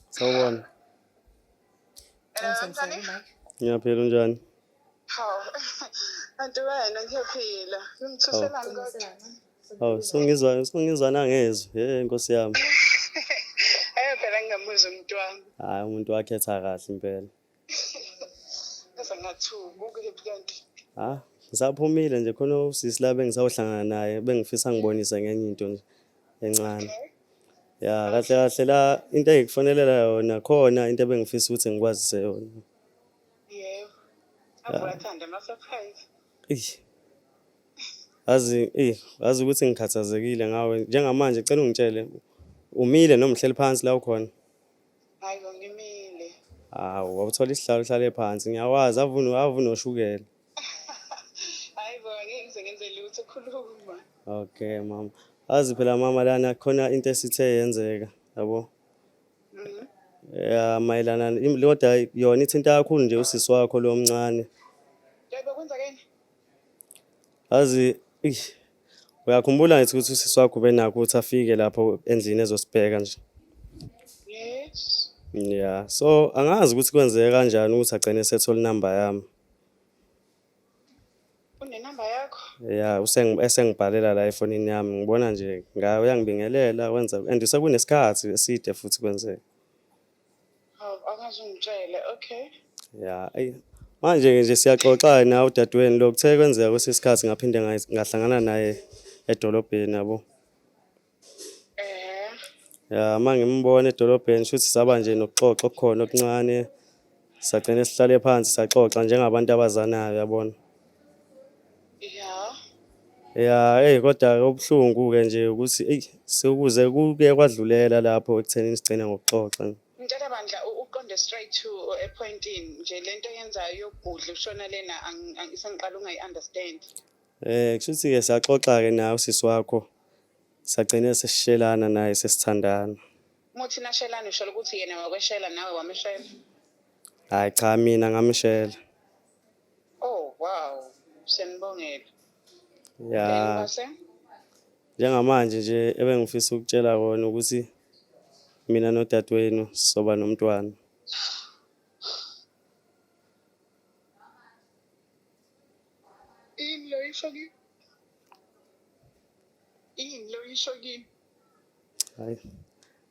Sawubona. Ngiyaphila unjani? Hawu. Kanti wena ngiyaphila. Ngimthuselani kodwa? Hawu, sungizwa sungizwa nangezwi. Hey Nkosi yami. Eh phela ngingamuzwa umuntu wami. Hayi umuntu wakhetha kahle impela. ha ngisaphumile nje khona usisi la bengisawuhlangana naye bengifisa ngibonise ngenye into nje encane ya kahle kahle la into engikufonelela yona khona into ebengifisa ukuthi ngikwazise yona yebo abathanda ama surprise ish azi eh azi ukuthi ngikhathazekile ngawe njengamanje cela ungitshele umile noma uhleli phansi la ukhona Hayi bo ngimile. Hawu wawuthola isihlalo uhlale phansi ngiyawazi avunu avunoshukela. Hayi bo ngeke ngize ngenze lutho khuluma. Okay mama. Azi phela mama lana khona into esithe yenzeka yabo. Mhm. Ya mayelana im- kodwa yona ithinta kakhulu nje usisi wakho lo mncane. Yebo kwenzekeni? Azi eish Uyakhumbula ngithi ukuthi usisi wakho ubenakho ukuthi afike lapho endlini ezosibheka nje. Yes. Yeah. So angazi ukuthi kwenzeke kanjani ukuthi agcine esethola inamba yami. Unenamba yakho? Yeah, useng esengibhalela la efonini yami. Ngibona nje ngayo uyangibingelela wenza and sekunesikhathi eside futhi kwenzeke. Hawu angaze ungitshele. Okay. Ya, ayi. Manje ke nje siyaxoxa na udadewenu lo kuthe kwenzeka kwesinye isikhathi ngaphinde nga- ngahlangana naye edolobheni yabo. Eh. Ya, uma ngimbona edolobheni shuthi saba nje nokuxoxa okukhona okuncane. Sagcine sihlale phansi saxoxa njengabantu abazanayo yabona. ya ya eyi kodwa obuhlungu-ke nje ukuthi eyi sekuze kuke kwadlulela lapho ekuthenini sigcine ngokuxoxa mtshela bandla uqonde straight to epointini nje le nto yenzayo yokugudla ushona lena sengiqala ungayi-understand um kusho ukuthi-ke saxoxa-ke nawe usisi wakho sagcine sesishelana naye sesithandana muthi nashelana usholo ukuthi yena wakweshela nawe wameshela hhayi cha mina ngamshela Oh wow. Senibongela. Ya. Ngase? Njengamanje nje ebengifisa ukutshela kona ukuthi mina nodadewenu soba nomntwana. Yini lo isho kimi? Yini lo isho kimi? Hayi.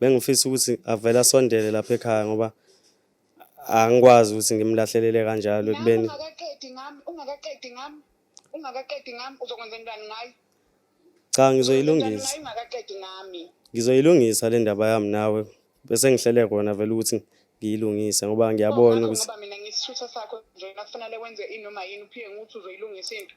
Bengifisa ukuthi avele asondele lapha ekhaya ngoba angikwazi ukuthi ngimlahlelele kanjalo ekubeni ungakaqedi ngami ungakaqedi ngami ungakaqedi ngami uzokwenza njani ngayo cha ngizoyilungisa ungakaqedi ngami ngizoyilungisa le ndaba yami nawe bese ngihlele kona vele ukuthi ngiyilungise ngoba ngiyabona ukuthi ngoba mina ngisithutha sakho nje nakufanele wenze inoma yini uphike nguthi uzoyilungisa into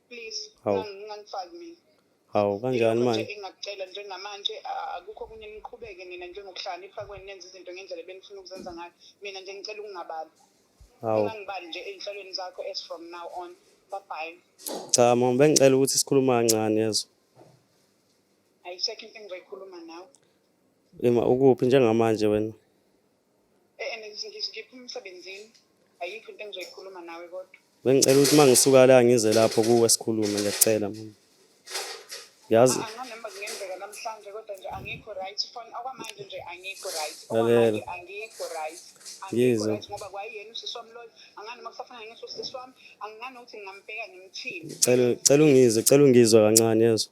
please Hawu. ngang- ngangifaki mina hawu kanjani manje engakucela njengamanje a- akukho okunye niqhubeke nina njengokuhlakanipha kwenu nenza izinto ngendlela benifuna ukuzenza ngayo mina nje ngicela ukungabali hawu ungangibali nje ey'nhlelweni zakho as from now on babhayi cha mama bengicela ukuthi sikhulume kancane yezwa ayisekho into engizoyikhuluma nawe ima ukuphi njengamanje wena Eh, ngiphuma emsebenzini ayikho into engizoyikhuluma nawe kodwa bengicela ukuthi uma ngisuka la ngize lapho kuwe sikhulume ngiyacela mama yazi ah, ngizwe ngoba kwayena usisi wami loyo angani uma kusafana ngisho usisi wami angingani ukuthi ngingambheka ngimthini cela cela ungizwe cela ungizwe kancane yezwa